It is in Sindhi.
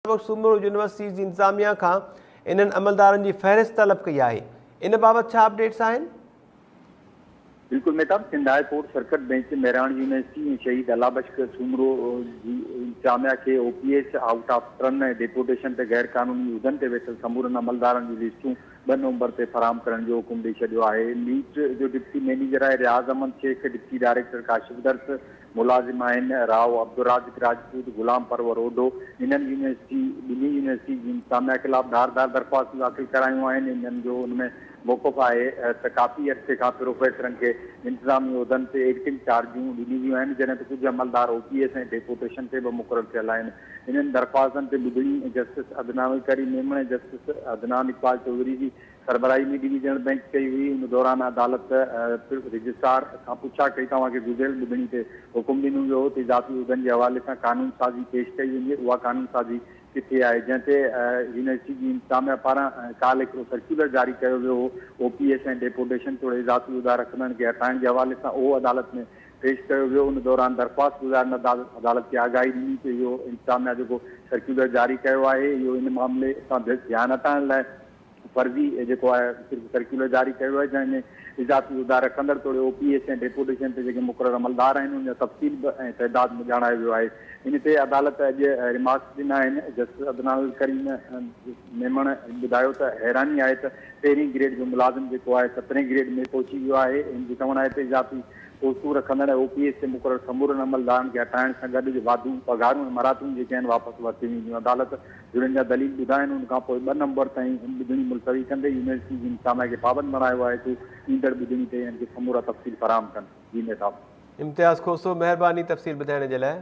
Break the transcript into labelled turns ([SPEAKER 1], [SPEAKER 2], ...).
[SPEAKER 1] وقت سومرو يونيورسٽيز جي انتظاميا کان انهن عملدارن جي فهرست طلب ڪئي آهي ان بابت ڇا اپڊيٽس آهن؟
[SPEAKER 2] بلڪل Mahtab, Sindh high court circuit bench Mehran university ۽ Shaheed Allah Bux Soomro جي انتظاميا کي O P S out of turn ۽ deputation تي غير قانوني عهدن تي ويٺل سمورن عملدارن جون لسٽون ٻه نومبر تي فراهم ڪرڻ جو حڪم ڏئي ڇڏيو آهي نيٽ جو ڊپٽي مئنيجر آهي رياض احمد شيخ ڊپٽي ڊائريڪٽر ڪاشف درس ملازم آهن راء عبدالرازق راجپوت، غلام پرور اوڍو انهن يونيورسٽي ٻنهي يونيورسٽي جي انتظاميا خلاف ڌار ڌار درخواستون داخل ڪرايون آهن انهن جو ان ۾ موقف آهي ته ڪافي عرصي کان پروفيسرن کي انتظامي عهدن تي ايڊٽنگ چارجون ڏنيون ويون آهن جڏهن ته ڪجهه عملدار او پي ايس ۽ ڊيپوٽيشن تي به مقرر ٿيل آهن انهن درخواستن تي ٻڌڻي جسٽس عدنان ويڪري ميمڻ ۽ جسٽس عدنان اقبال چوڌري جي سربراهي ميڊي جي ڄڻ بئنڪ ڪئي هئي، ان دوران عدالت رجسٽرار کان پڇا ڪئي ته اوهان کي گذريل ٻڌڻي تي حڪم ڏنو ويو هو ته اضافي عهدن جي حوالي سان قانون سازي پيش ڪئي وڃي، اها قانون سازي ڪٿي آهي؟ جنهن تي يونيورسٽي جي انتظاميا پاران ڪالهه هڪڙو سرڪيولر جاري ڪيو ويو هو، او پي ايس ۽ ڊيپوٽيشن توڙي اضافي عهدا رکندڙن کي هٽائڻ جي حوالي سان اهو عدالت ۾ پيش ڪيو ويو، ان دوران درخواست گذارندڙ عدالت کي آگاهي ڏني ته اهو انتظاميا جيڪو سرڪيولر جاري ڪيو آهي اهو ان معاملي تان ڌيان هٽائڻ لاء فرضي جيڪو آهي صرف سرڪيولر جاري ڪيو ويو آهي جنهن ۾ اضافي عهدا رکندڙ توڙي او پي ايس ۽ ڊيپوٽيشن تي جيڪي مقرر عملدار آهن ان جا تفصيل به ۽ تعداد به ڄاڻايو ويو آهي ان تي عدالت اڄ ريمارڪس ڏنا آهن جسٽس عدنان الڪريم ميمڻ ٻڌايو ته حيراني آهي ته پهرين گريڊ جو ملازم جيڪو آهي سترهين گريڊ ۾ پهچي ويو آهي ان جو چوڻ آهي ته اضافي پوسٽون رکندڙ ۽ او پي ايس تي مقرر سمورن عملدارن کي هٽائڻ سان گڏ جو واڌو پگهارون ۽ مراتون جيڪي آهن واپس ورتيون وينديون عدالت جن جا دليل ٻڌائين ان کان پوء ٻه نمبر تائين ان ٻڌڻي ملتوي ڪندي يونيورسٽي جي ان سامائي کي پابند بڻايو آهي ته ايندڙ ٻڌڻي تي انهن کي سمورا تفصيل فراهم
[SPEAKER 1] ڪن. جي مير
[SPEAKER 2] صاحب.
[SPEAKER 1] امتياز
[SPEAKER 2] کوسو،
[SPEAKER 1] مهرباني تفصيل
[SPEAKER 2] ٻڌائڻ
[SPEAKER 1] جي لاء.